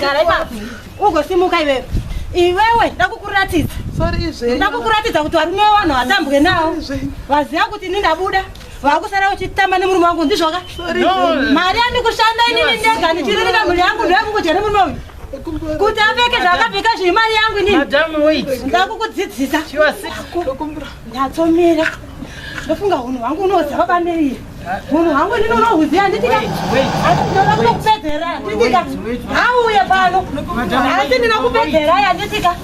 Gara ipapo. Ugosimuka iwewe. Iwewe ndakukuratidza. Sorry izve. Ndakukuratidza kuti varume vanhu hatambwe nawo. Vaziva kuti ini ndabuda. Vakusara uchitamba nemurume wangu ndizvo ka? Mari yandikushanda inini ndega ndichiririka mhuri yangu ndoyakungodya nemurume uyu kuti apfeke zvaakapfeka zviri mari yangu inini ndakukudzidzisa nyatsomira ndofunga hunhu hwangu unoziva baba nei munhu wangu inini unohuziva handitika ndoda kutokupedzera handitika hauye pano hasi ndina kupedzera handitika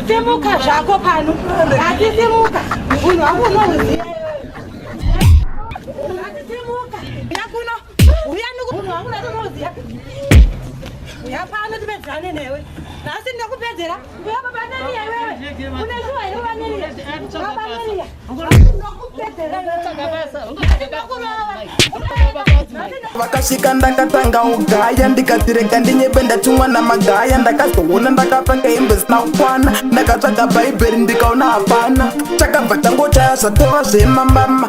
simuka zvako pano hasi simuka munhu wangu unohuziva vakasvika ndakatanga ugaya ndikatirega ndinyebe ndatumwa namagaya ndakazoona ndakapfeka hembe zina kukwana ndakatsvaga bhaibheri ndikaona hapana chakabva changochaya zvatova zvemamama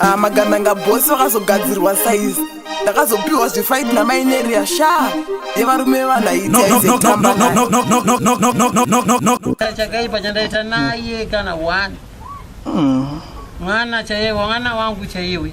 ah, magandanga bosi vakazogadzirwa saizi ndakazopiwa zvefaiti namaineria shaa yevarume vevanaichakaipa chandaita naye kana one hmm. mwana chaiye mwana wangu chaiwe